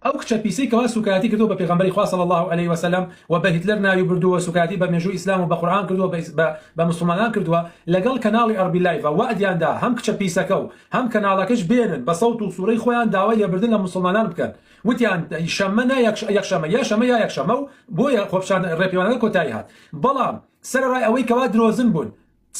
ئەو کچە پیسەی کەوا سوکایەتی کردوە بە پێغەمبەری خوا صلی اللە علیە وسلم و بە هیتلەر ناوی بردووە سوکایەتی بە مێژووی ئیسلام و بە قورئان کردوە بە بە مسوڵمانان کردوە لەگەڵ کەناڵی ئەڕبی لایڤ وەعدیان دا هەم کچە پیسەکە و هەم کەناڵەکەش بێنن بە سەوت و سورەی خۆیان داوای لێبردن لە مسوڵمانان بکەن وتیان شەممە نا یەکشەمە یا شەمە یا یەکشەمە و بۆیە خۆپیشان ڕێپێوانەکە کۆتایی هات بەڵام سەرەڕای ئەوەی کەوا درۆزن بوون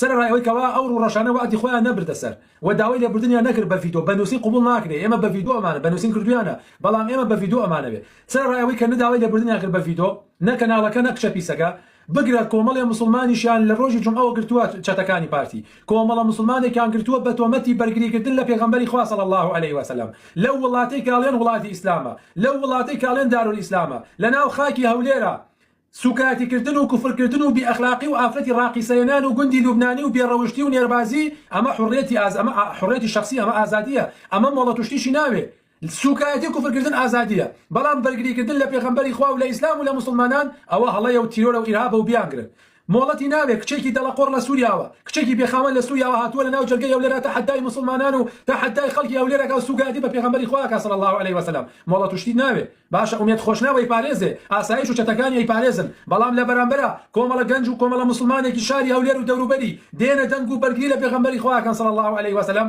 سەرەڕای ئەوەی کەوا ئەو ڕووڕەشانە وەعدی خۆیان نەبردە سەر و داوای لێبوردنیان نەکرد بە ڤیتۆ بە نووسین قبوڵ ناکرێ ئێمە بە ڤیتۆ ئەمانە بە نووسین کردوویانە بەڵام ئێمە بە ڤیتۆ ئەمانەوێ سەرەڕای ئەوەی کە نە داوای لێبوردنیان کرد بە ڤیتۆ نە کەناڵەکە نە کچە پیسەکە بگرە کۆمەڵێ موسڵمانیشیان لە ڕۆژی جومعەوە گرتووە چەتەکانی پارتی کۆمەڵە موسڵمانێکیان گرتووە بە تۆمەتی بەرگری کردن لە پێغەمبەری خوا صلی اللە علیە و سلم لەو وڵاتەی کە ئەڵێن وڵاتی ئیسلامە لەو وڵاتەی کە ئەڵێن دارالئیسلامە لەناو خاکی هەولێرە سوکایەتی کردن و کفر کردن و بی ئەخلاقی و ئافرەتی ڕاقیسەێنان و گوندی لوبنانی و بێ ڕەوشتی و نێربازی ئەمە حوڕێتی ئاز ئەمە حوڕێتی شەخسی ئەمە ئازادیە ئەمە مۆڵەت و شتیشی ناوێ سوکایەتی و کفر کردن ئازادیە بەڵام بەرگری کردن لە پێغەمبەری خوا و لە ئیسلام و لە موسڵمانان ئەوە هەڵەیە و تیرۆرە و ئیرهابە و بیانگرن مۆڵەتی ناوێ کچێکی دەڵە قۆڕ لە سوریاوە کچێکی بێ خاوەن لە سوریاوە هاتووە لە ناو جەرگەی ئەولێرا تەحەدای موسڵمانان و تەحەدای خەڵکی ئەولێر ئەکا و سوکایەتی بە پێغەمبەری خوا ئەکا صلی اللە علیە وسلم مۆڵەت و شتی ناوێ باشە ئومێد خۆشناو ئەیپارێزێ، ئاسایش و چەتەکانی ئەیپارێزن، بەڵام لە بەرامبەرا کۆمەڵە گەنج و کۆمەڵە موسڵمانێکی شاری هەولێر و دەوروبەری دێنە دەنگ و بەرگری لە پێغەمبەری خوا ئەکەن صلی اللە علیە وسلم،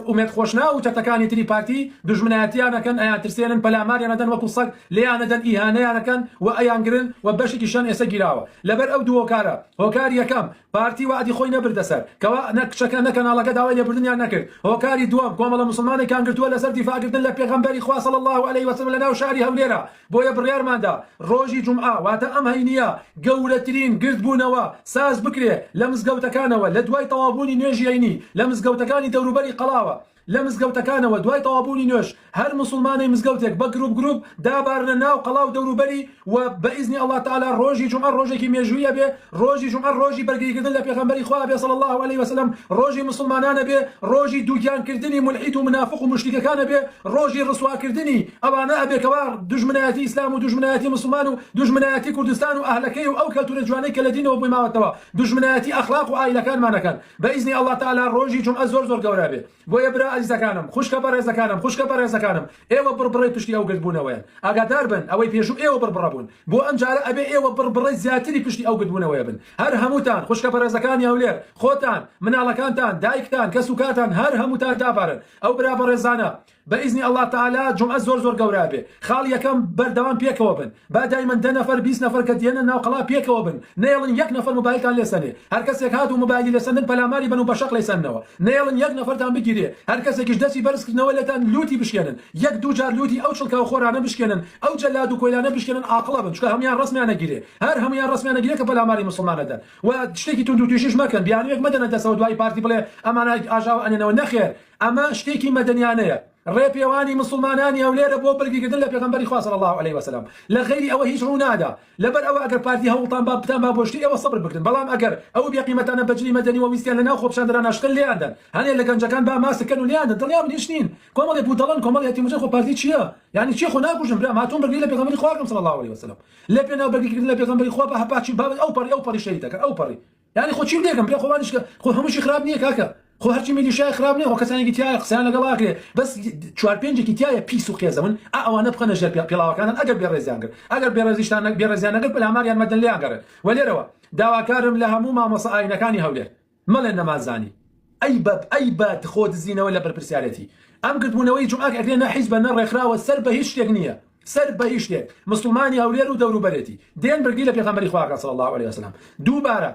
ئومێد خۆشناو و چەتەکانی تری پارتی دوژمنایەتیان ئەکەن، ئەیانترسێنن، پەلاماریان ئەدەن وەکو سەگ لێیان ئەدەن، ئیهانەیان ئەکەن و ئەیانگرن و بەشێکیشیان ئێسە گیراوە. لەبەر ئەو دوو هۆکارە، هۆکاری یەکەم، پارتی وەعدی خۆی نەبردە سەر کەوا نە کچەکە نە کەناڵەکە داوای لێبوردنیان نەکرد هۆکاری دووەم کۆمەڵە موسڵمانێکان گرتووە لەسەر دیفاع کردن لە پێغەمبەری خوا صلی اللە علیە وسلم لەناو شاری هەولێرا بۆیە بڕیارماندا ڕۆژی جومعە واتە ئەم هەینیە گەورەترین گردبوونەوە ساز بکرێ لە مزگەوتەکانەوە لەدوای تەواوبوونی نوێژی هەینی لە مزگەوتەکانی دەوروبەری قەڵاوە لە مزگەوتەکانەوە دوای تەوابوونی نوێژ هەر موسڵمانەی مزگەوتێک بە گروپ گروپ دابارنە ناو قەڵاو دەوروبەری و بە ئیزنی اللە تەعالا ڕۆژی جومعە ڕۆژێکی مێژووی ئەبێ ڕۆژی جومعە ڕۆژی بەرگریکردن لە پێغەمبەری خوا ئەبێ صلی اللە علیە وسلم ڕۆژی موسڵمانان ئەبێ ڕۆژی دووگیان کردنی مولحید و منافق و موشریکەکان ئەبێ ڕۆژی ڕسواکردنی ئەوانە ئەبێ کەوا دوژمنایەتی ئیسلام و دوژمنایەتی موسڵمان و دوژمنایەتی کوردستان و ئەهلەکەی و ئەو کەلتورە جوانەی کە لە دینەوە بۆی ماوەتەوە دوژمنایەتی ئەخلاق و عائیلەکانمان ئەکەن بە ئیزنی اللە تەعالا ڕۆژی جومعە زۆر زۆر گەورە ئەبێ بۆیە برا ئەزیزەکانم خوشکە بەڕێزەکانم خوشکە بەڕێزەکانم ئێوە بڕبڕەی پشتی ئەو گردبوونەوەیەن ئاگادار بن ئەوەی پێشوو ئێوە بڕبڕە بوون بۆ ئەم جارە ئەبێ ئێوە بڕبڕەی زیاتری پشتی ئەو گردبوونەوەیە بن هەر هەمووتان خوشکە بەڕێزەکانی هەولێر خۆتان مناڵەکانتان دایکتان کەس و کارتان هەر هەمووتان دابارن ئەو برا بەڕێزانە بە ئیزنی اللە تەعالا جومعە زۆر زۆر گەورابێ خاڵ یەکەم بەردەوام پێکەوە بن با دایمەن دە نەفەر بیست نەفەر کە دێنە ناو قەڵا پێکەوە بن نەیەڵن یەک نەفەر موبایلتان لێ سەنێ هەرکەسێک هات و موبایلی لێ سەندن پەلاماری بەن و بەشەق لێی سەننەوە نەیەڵن یەک نەفەرتان بگیرێ هەرکەسێکیش دەسی بەرز کردنەوە لێتان لوتی بشکێنن یەک دوو جار لوتی ئەو چڵکاو خۆرانە بشکێنن ئەو جەلاد و کۆیلانە بشکێنن ئاقڵە بن چونکە هەموان ڕەسمیان ئەگیرێ هەر هەموان ڕەسمیان ئەگیرێ کە پەلاماری موسڵمان ئەدەن و شتێکی توندوتیژیش مەکەن بیانویەک مەدەنە دەسەوە دوای پارتی بڵێ ئەمانە ئاژاوە ئەنێنەوە نەخێر ئەمە شتێکی مەدەنیانەیە، ڕێپێوانی مسوڵمانانی هەولێرە بۆ بەرگریکردن لە پێغەمبەری خوا صلی اللە علیە وسلم لە غەیری ئەوە هیچ ڕوونادا، لەبەر ئەوە ئەگەر پارتی هەوڵتان با بتان با بۆ شتی ئێوە سەبر بکرن بەڵام ئەگەر ئەو بێ قیمەتانە بەجلی مەدەنی وە ویستیان لەناو خۆپیشاندەران ناشتن لێیان دەن هەنێ لە گەنجەکان با ماسک کەن و لێیان دەن دڵنیا بن هیچ نین کۆمەڵێ بودەڵەن کۆمەڵێ یەتیم وجەن خۆ پارتی چیە یانی چی خۆ ناکوژن برام هاتووم بەرگری لە پێغەمبەری خوا بکەم صلی اللە علیە وسلم لە پێناو بەرگریکردن لە پێغەمبەری خوا بە هەپا چی بابەت ئەوپەڕی ئەوپەڕی شەهیدەکەن ئەوپەڕی یانی خۆ چیم لێکەم پێ خۆوانیش کە خۆ هەمووشی خراپ نییە کاکە خۆ هەرچی میلیشای خراپ نیە خۆ کەسانێکی تایە قسەیان لەگەڵ ئاکرێ بەس چوار پێنجێکی تایە پیس و قێزەون ئا ئەوانە بخەنە ژێر پێ پێڵاوەکانن ئەگەر بێڕێزیان کرد ئەگەر بێڕێزیشتان نەک بێڕێزیان نەکرد پەلاماریان مەدەن لێیان گەڕێن وە لێرەوە داواکارم لە هەموو مامۆستا ئاینەکانی هەولێر مەڵێن نەمانزانی ئەی بە ئەی بە خۆ دزینەوە لە بەرپرسیارێتی ئەم کردبوونەوەی جومعە کە ئەکرێ نە حیزبە نە ڕێکخراوە سەر بە هیچ شتێک نییە سەر بە یشتێک مسوڵمانی هەولێر و دەورو بەرێتی دێن بردی لە پێغەمبەری خوا کەن صلی اللە علیە وسلم دوو بارە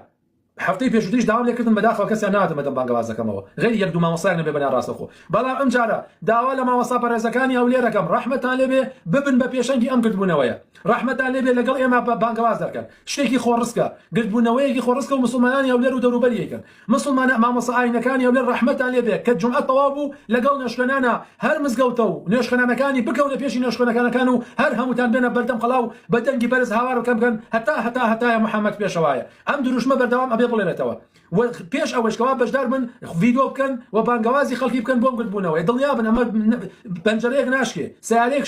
هەفتەی پێشوتریش داوام لێ کردن بەداخەوە کەسیان نەهاتن بەدەم بانگەوازەکەمەوە غەیری یەک دوو مامۆستایەک نەبێ بەنیان ڕاستەخۆ بەڵام ئەم جارە داوا لە مامۆستا بەڕێزەکانی هەولێر ئەکەم ڕەحمەتان لێ بێ ببن بە پێشەنگی ئەم گردبونەوەیە ڕەحمەتان لێ بێ لەگەڵ ئێمە بانگەواز دەرکەن شتێکی خۆڕسکە گردبونەوەیەکی خۆڕسکە و مسوڵمانانی هەولێر و دەورو بەریەکەن مسوڵمانە مامۆسا ئاینەکانی هەولێر ڕەحمەتتان لێ بێ کە جومعە تەواو بوو لەگەڵ نوێژخوێنانە هەر مزگەوتە و نوێژخوێنانەکانی بکەونە پێشی نوێژخوێنەکانەکان و هەر هەمووتان بێنە بەردەم قەڵا و بە دەنگی بەرز هاوار بکەن بکەن هەتا هەتا هەتایە محمد پێشەوایە ئەم دروشمە بەردەوام ئەبێ بڵێنێتەوە و پێش ئەوەش کەوا بەشدار بن ڤیدۆ بکەن و بانگەوازی خەڵکی بکەن بۆم گردبوونەوەی دڵنیا بن ئەمە پەنجەرەیەک ناشکێ سیارەیەک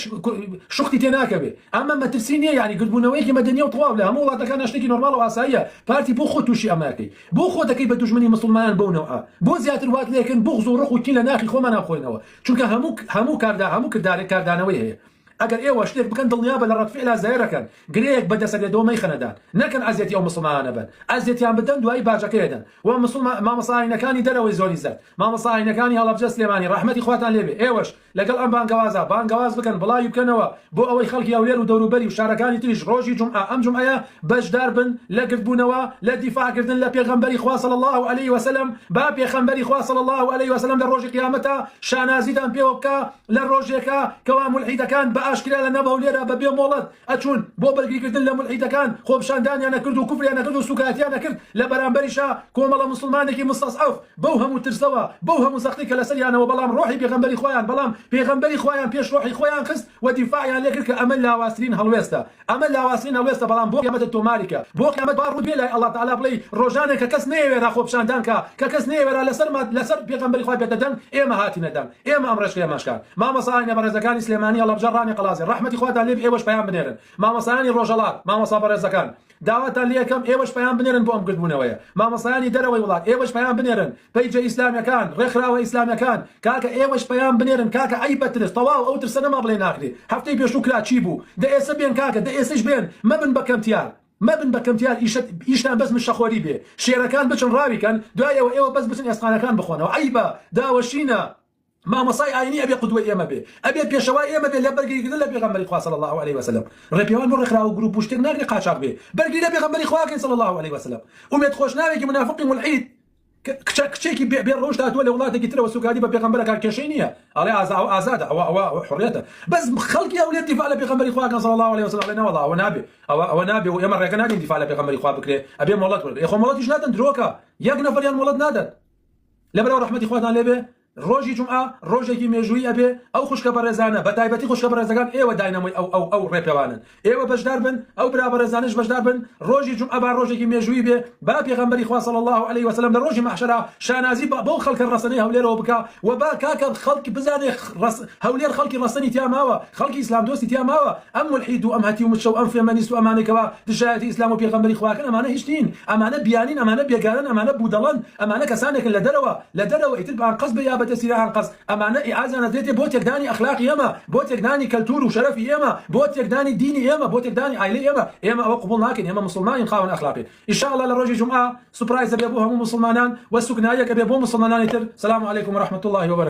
شوختی تێ ناکەوێ ئەمە مەترسی نییە یعنی گردبوونەوەیەکی مەدەنیە و تەواو لە هەموو وڵاتەکاندا شتێکی نۆرماڵ و ئاساییە پارتی بۆ خۆت تووشی ئەمەکەی بۆ خۆ دەکەی بە دوژمنی مسوڵمانان بەو نەوعە بۆ زیاتر وات لێکن بوغز و ڕق و کین لە ناخی خۆمان ئاخۆینەوە چونکە هەموو هەموو کاردا هەموو کردارێک کاردانەوەی هەیە ئەگەر ئێوە شتێک بکەن دڵنیابە لە ڕەدفعلا زەەرەکەن گرێیەک بە دەسەبێتەوە مەیخەنە دان نەکەن ئەزیەتی ئەو مسوڵمانانە بەن ئەزیەتیان بدەن دوایی باجەکەی ئەدەن وە مسوڵما مامۆستا ئاینەکانی دەرەوەی زۆر ئیزەت مامۆستا ئاینەکانی هەڵەبجە سلێمانی ڕەحمەتی خواتان لێبێ ئێوەش لەگەڵ ئەم بانگەوازە بانگەواز بکەن بڵاوی بکەنەوە بۆ ئەوەی خەڵکی هەولێر و دەوروبەری و شارەکانی تریش ڕۆژی جومعە ئەم جومعەیە بەشدار بن لە گردبوونەوە لە دیفاع کردن لە پێغەمبەری خوا صلی اللە علیە وسلم با پێخەمبەری خوا صلی اللە علیە وسلم لە ڕۆژی قیامەتا شانازیتان پێوە بکا لە ڕۆژێکا کەوا مولحیدەکان بە ئاشکرا لە ناو هەولێرا بە بێ مۆڵەت ئەچوون بۆ بەرگری کردن لە مولحیدەکان خۆپشاندانیان ئەکرد و کوفریان ئەکرد و سوکایەتیان ئەکرد لە بەرامبەریشا کۆمەڵە موسڵمانێکی مستضعف بەو هەموو ترسەوە بەو هەموو زەختی کە لەسەریانەوە بەڵام ڕۆحی پێغەمبەری خۆیان بەڵام پێغەمبەری خۆیان پێش ڕۆحی خۆیان خست و دیفاعیان لێکرد کە ئەمە لاوازترین هەڵوێستە ئەمە لاوازترین هەڵوێستە بەڵام بۆ قیامەتت تۆماریکە بۆ قیامەت با ڕووت بێ لای اللە تعالی بڵێی ڕۆژانێک کە کەس نەیەوێرا خۆپشاندان کا کە کەس نەیەوێرا لەسەر لەسەر پێغەمبەری خوا بێتە دەنگ ئێمە هاتینە دەنگ ئێمە ئەم ڕێچکەیە ماشکا مامۆسا ئاینە بەڕێزەکانی سلێمانی هەڵەبجە ڕانی قەڵازێ ڕەحمەتی خواتان لێبی ئێوەش پەیام بنێرن مامۆسایانی ڕۆژەڵات مامۆسا بەڕێزەکان داواتان لێکەم ئێوەش پەیام بنێرن بۆ ئەم گردبوونەوەیە مامۆسایانی دەرەوەی وڵات ئێوەش پەیام بنێرن پەیجە ئیسلامیەکان ڕێکخراوە ئیسلامیەکان کاکە ئێوەش پەیام بنێرن کاکە عەیبە ترس تەواو ئەو ترسە نەما بڵێ ناکرێ هەفتەی پێشوو کرا چی بوو دە ئێسە بێن کاکە دە ئێسەیش بێن مەبن بە کەمتیار مەبن بە کەمتیار ئیشت ئیشتان بەس مشەخۆری بێ شێرەکان بچن ڕاوی کەن دوای ئەوە ئێوە بەس بچن ئێسقانەکان بخۆنەوە عەیبە داوەشینە مامۆستای ئاینی ئەبێ قودوەی ئێمە بێ ئەبێ پێشەوای ئێمە بێ لە بەرگری گرتن لە پێغەمبەری خوا صلی اللە علیە وسلم ڕێپێوان بۆ ڕێکخراو و گروپ و شتێک ناکرێ قاچاخ بێ بەرگری لە پێغەمبەری خوا کەین صلی اللە علیە وسلم ئومێد خۆشناوێکی منافقی مولحید کچە کچێکی بێ بێ ڕەوشت هاتووە لە وڵاتێکی ترەوە سوکایەتی بە پێغەمبەر ئەکات کێشەی نییە ئەڵێ ئازا ئەو ئازادە ئەوە ئەوە ئەوە حڕیەتە بەس خەڵکی ئەولێ دیفاع لە پێغەمبەری خوا کەن صلی اللە علیه و سلم ئەڵێ نەوەڵڵا ئەوە نابێ ئەوە ئەوە نابێ و ئێمە ڕێگە نادەین دیفاع لە پێغەمبەری خوا بکرێ ئەبێ مۆڵەت وەرگرێ خۆ مۆڵەتیش نادەن درۆکە یەک نەفەریان مۆڵەت نادەن لەبەرئەوە ڕەحمەتی خواتان لێ بێ ڕۆژی جومعە ڕۆژێکی مێژوویی ئەبێ ئەو خوشکە بەڕێزانە بەتایبەتی خوشکە بەڕێزەکان ئێوە داینەمۆی ئەو ئەو ئەو ڕێپێوانەن ئێوە بەشدار بن ئەو برا بەڕێزانەش بەشدار بن ڕۆژی جومعە با ڕۆژێکی مێژوویی بێ با پێغەمبەری خوا صلی اللە علیە و سلم لە ڕۆژی مەحشەرا شانازی بە بەو خەڵکە ڕەسەنەی هەولێرەوە بکا و با کاکە خەڵک بزانێ ڕەس هەولێر خەڵکی ڕەسەنی تیا ماوە خەڵکی ئیسلام دۆستی تیا ماوە ئەم مولحید و ئەم هەتی و مچە و ئەم فێمەنیست و ئەمانەی کەوا دژایەتی ئیسلام و پێغەمبەری خوا ئەکەن ئەمانە هیچ نین ئەمانە بیانین ئەمانە بێگانەن ئەمانە بودەڵەن ئەمانە کەسانێکن لە دەرەوە لە دەرەوە ئیتر بانقەز بێ یا بەدەستی لە ئانقەز ئەمانە ئیئازانەدرێتێ بۆ تێکدانی ئەخلاقی ئێمە بۆ تێکدانی کەلتور و شەرەفی ئێمە بۆ تێکدانی دینی ئێمە بۆ تێکدانی ئایلەی ئێمە ئێمە ئەوە قبوڵ ناکەین ئێمە موسڵمانین خاوەن ئەخلاقین ئیشاڵا لە ڕۆژی جومعە سوپرایزەبێ بۆ هەموو موسڵمانان وە سوکنایەکەبێ بۆ موسڵمەنانی تر سلام علیکم و رحمتاللە و